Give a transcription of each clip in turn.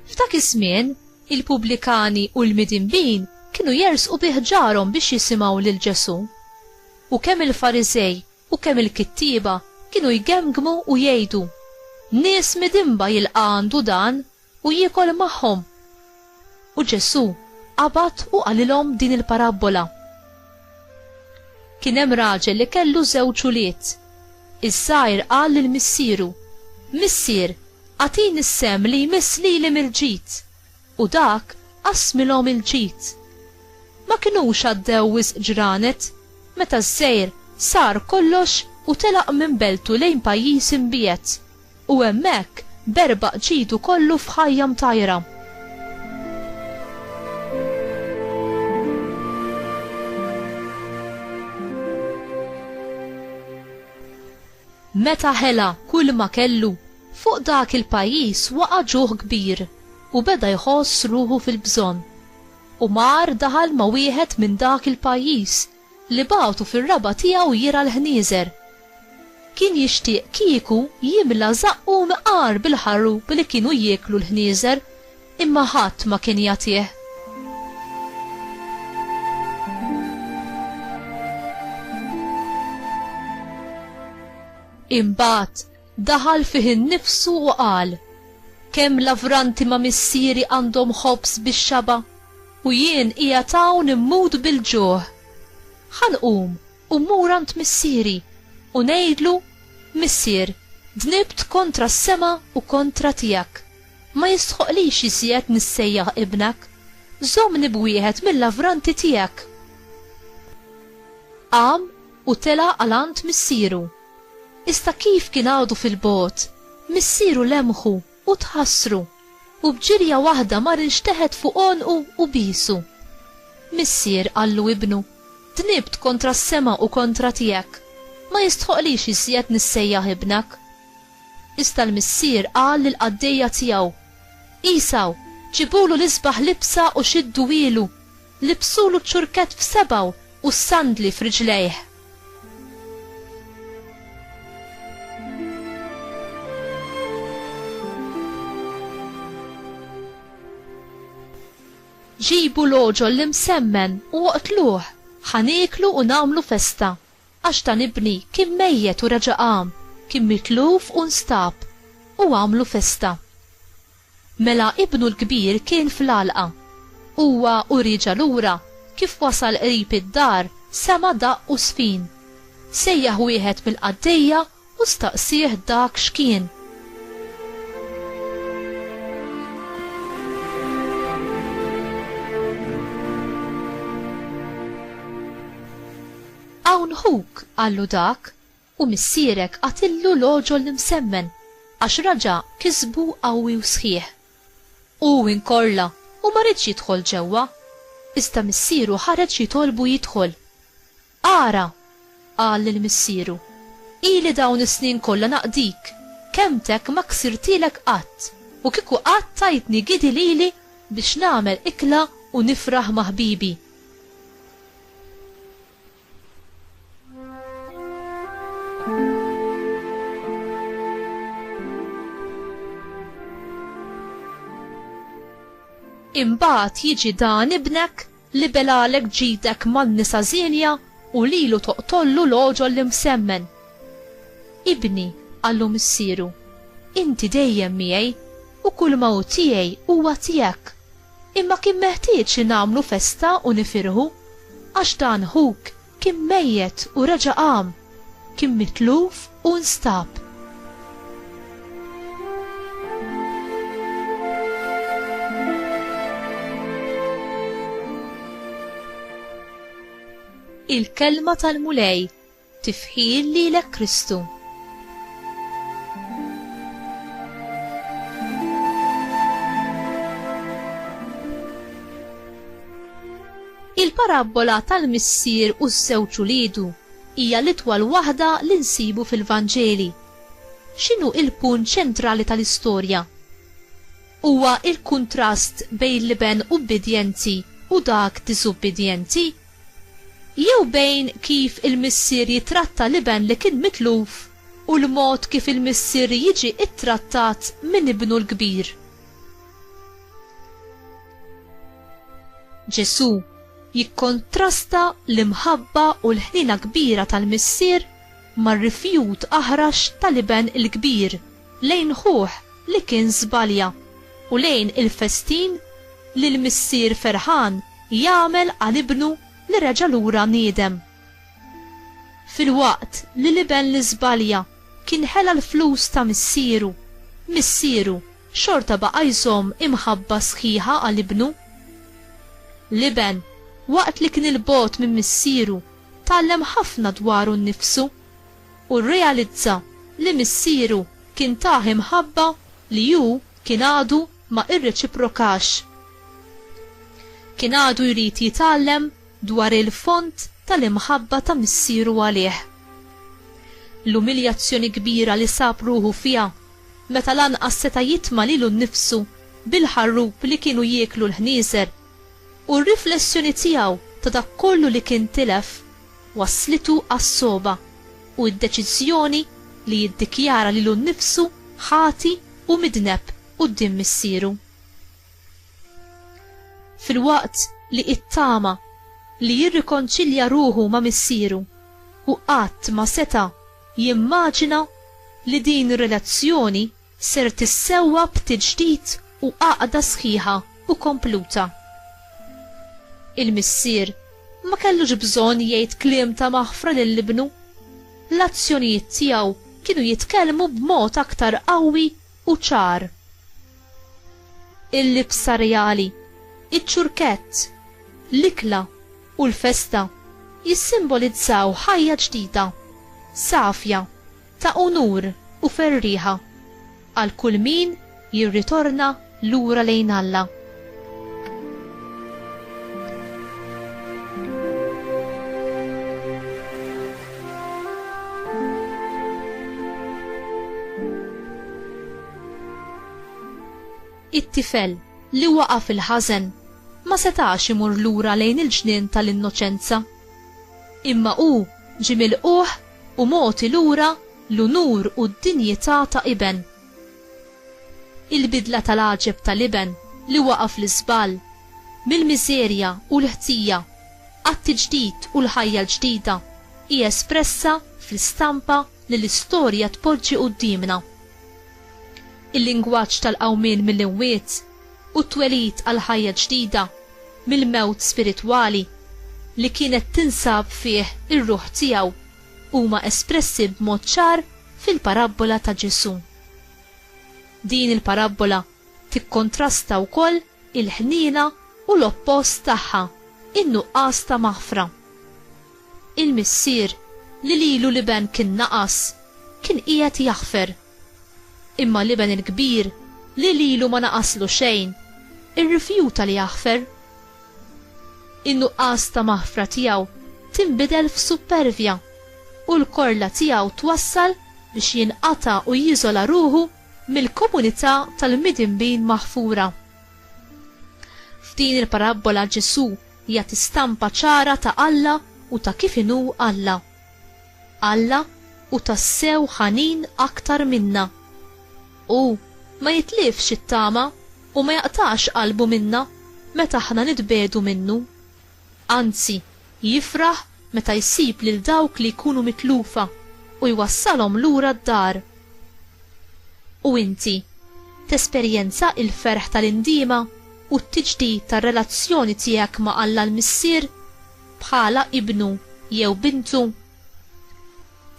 F'dak iż-żmien, il-pubblikani u l-midinbin kienu jersqu bih ġarhom biex jisimgħu lil Ġesù. U kemm il-Farizej u kemm il-kittieba kienu jgemgmu u jgħidu, Nies midinba jilqa' għandu dan U jiekol magħhom. U Ġesù qabad u qalilhom din il-parabbola, Kien hemm raġel li kellu żewġ ulied. Iż-żgħir qal lil missieru, Missier, agħtini s-sehem li jmiss lili mill-ġid. U dak qassmilhom il-ġid. Ma kinux għaddew wisq ġranet, meta ż-żgħir sar kollox u telaq minn beltu lejn pajjiż imbiegħed U hemmhekk berbaq ġidu kollu f'ħajja mtajra. Meta ħela kulma kellu, fuq dak il-pajjiż waqa' ġuħ kbir u beda jħoss ruħu fil-bżonn. U mar daħal ma' wieħed minn dak il-pajjiż li bagħtu fir-raba' tiegħu jirgħa l-ħnieżer. Kien jixtieq kieku jimla żaqqu mqar bil-ħarub li kienu jieklu l-ħnieżer, imma ħadd ma kien jagħtih. Imbagħad daħal fih innifsu u qal, Kemm lavranti ma' missieri għandhom ħobż bix-xaba'? U jien qiegħed hawn immut bil-ġuħ. Ħa nqum u mmur għand missieri, u ngħidlu, Missier, dnibt kontra s-sema u kontra tiegħek. Ma jistħoqqlix iżjed nissejjaħ ibnek. Żommni b'wieħed mil-lavranti tiegħek. Qam u tela' għal għand missieru. Iżda kif kien għadu fil-bogħod, missieru lemħu u tħassru, u b'ġirja waħda mar inxteħet fuq għonqu u biesu. Missier, qallu ibnu, dnibt kontra s-sema u kontra tiegħek, ma jistħoqqlix iżjed nissejjaħ ibnek. Iżda l-missier qal lill-qaddejja tiegħu, Għesaw, ġibulu l-isbaħ libsa u xidduhielu. Libsulu ċ-ċurkett f'sebgħu u s-sandli f'riġlejh. Ġibu l-għoġol l-imsemmen u oqtluh, ħa nieklu u nagħmlu festa, għax dan ibni kien mejjet u reġa' qam, kien mitluf u nstab, u agħmlu festa. Mela ibnu l-kbir kien fl-għalqa. Huwa u rieġa' lura, kif wasal qrib id-dar sema' daqq u żfin. Sejjaħ wieħed mill-qaddejja u staqsieh dak x'kien. Hawn ħuk, qallu dak. U missierek għatillu l-għoġol l-imsemmen, għax raġa' kisbu qawwi u sħiħ. U hu inkorla u ma riedx jidħol ġewwa. Iżda missieru ħareġ jitolbu jidħol. Ara! qal lil missieru, ili dawn is-snin kollha naqdik, kelmtek ma ksirtilek qatt, u kieku qatt tajtni gidi lili biex nagħmel ikla u nifraħ ma' ħbibi. Imbagħad jiġi dan ibnek li belalek ġidek man-nisa żienja u lilu toqtollu l-għoġol li msemmen. Ibni, qallu missieru, inti dejjem miegħi u kull ma hu tiegħi huwa tiegħek. Imma kien meħtieġ li nagħmlu festa u nifirħu, għax dan ħuk kien mejjet u reġa' qam, kien mitluf u nstab. Il-Kelma tal-Mulej. Tifħir lilek Kristu. Il-parabbola tal-missier u ż-żewġ uliedu hija l-itwal waħda li nsibu fil-Vanġeli. X'inhu il-punt ċentrali tal-istorja? Huwa il-kuntrast bejn l-iben ubbidjenti u dak diżubbidjenti jew bejn kif il-missier jitratta l-iben li kien mitluf u l-mod kif il-missier jiġi ttrattat minn ibnu l-kbir. Ġesù jikkontrasta l-imħabba u l-ħniena kbira tal-missier mar-rifjut aħrax tal-iben il-kbir lejn ħuh li kien żbalja, u lejn il-festin li l-missier ferħan jagħmel għal ibnu li reġa' lura niedem. Filwaqt li l-iben li żbalja kien ħela l-flus ta' missieru, missieru xorta baqa' jżomm imħabba sħiħa għal ibnu. L-iben, waqt li kien 'il bogħod minn missieru, tgħallem ħafna dwaru nnifsu u rrealizza li missieru kien tah imħabba li hu kien għadu ma irreċiprokax. Kien għadu jrid jitgħallem dwar il-fond tal-imħabba ta' missieru għalih. L-umiljazzjoni kbira li sab ruħu fiha meta lanqas seta' jitma' lilu nnifsu bil-ħarrub li kienu jieklu l-ħnieżer u r-riflessjoni tiegħu ta' dak kollu li kien tilef, wasslitu għas-sogħba u d-deċiżjoni li jiddikjara lilu nnifsu ħati u midneb quddiem Missieru. Filwaqt li ittama li jirrikonċilja ruħu ma' Missieru, hu qatt ma seta' jimmaġina li din ir-relazzjoni ser tissewwa b'tiġdid u għaqda sħiħa u kompluta. Il-missier ma kellux bżonn jgħid kliem ta' maħfra lil ibnu. L-azzjonijiet tiegħu kienu jitkellmu b'mod aktar qawwi u ċar. Il-libsa reali, iċ-ċurkett, l-ikla u l-festa jissimbolizzaw ħajja ġdida, safja. Ta' unur u ferrieħa għal kull min jirritorna lura lejn Alla. It-tifel li waqa' fil-ħażen ma setax imur lura lejn il-ġnien tal-innoċenza. Imma hu ġie milqugħ u mogħti lura l-unur u d-dinjità ta' iben. Il-bidla tal-għaġeb tal-iben li waqa' fl-iżball, mill-miżerja u l-ħtija għat-tiġdid u l-ħajja l-ġdida, hi espressa fl-istampa li l-istorja tpoġġi quddiemna. Il-lingwaġġ tal-qawmien mill-imwiet, u t-twelid għal ħajja ġdida mill-mewt spiritwali li kienet tinsab fih ir-ruħ tiegħu huma espressi b'mod ċar fil-parabbola ta' Ġesù. Din il-parabbola tikkontrasta wkoll il-ħniena u l-oppost tagħha, in-nuqqas ta' maħfra. Il-missier li lilu l-iben kien naqas, kien qiegħed jaħfer. Imma l-iben il-kbir, li lilu ma naqaslu xejn, irrifjuta li jaħfer. In-nuqqas ta' maħfra tiegħu tinbidel f'suppervja, u l-korla tiegħu twassal biex jinqata' u jiżola ruħu mill-komunità tal-midinbin maħfura. F'din il-parabbola Ġesù jagħti stampa ċara ta' Alla u ta' kif inhu Alla. Alla hu tassew ħanin aktar minna. Hu ma jitlifx it-tama u ma jaqtax qalbu minna meta aħna nitbiegħdu minnu. Anzi, jifraħ meta jsib lil dawk li jkunu mitlufa u jwassalhom lura d-dar. U inti, tesperjenza l-ferħ tal-indiema u t-tiġdid tar-relazzjoni tiegħek ma' Alla l-Missier? bħala ibnu jew bintu,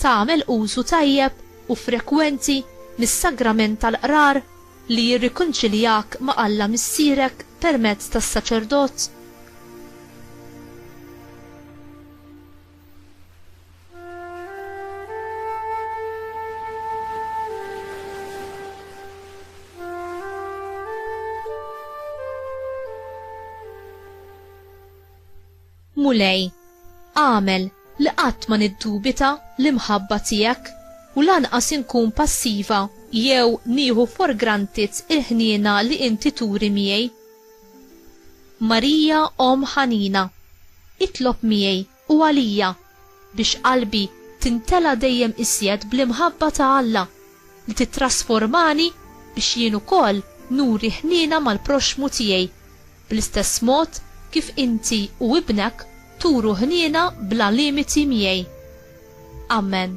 tagħmel użu tajjeb u frekwenti mis-sagrament tal-qrar li jirrikonċiljak ma' Alla Missierek permezz tas-saċerdot? Mulej, agħmel li qatt ma niddubita l-imħabba tiegħek u lanqas inkun passiva jew nieħu for granted il-ħniena li inti turi miegħi. Marija Omm Ħanina, itlob miegħi u għalija biex qalbi timtela dejjem iżjed bl-imħabba ta' Alla li tittrasformani biex jien ukoll nuri ħniena mal-proxxmu tiegħi. bl-istess mod kif inti u ibnek turu ħniena bla limiti miegħi. Amen.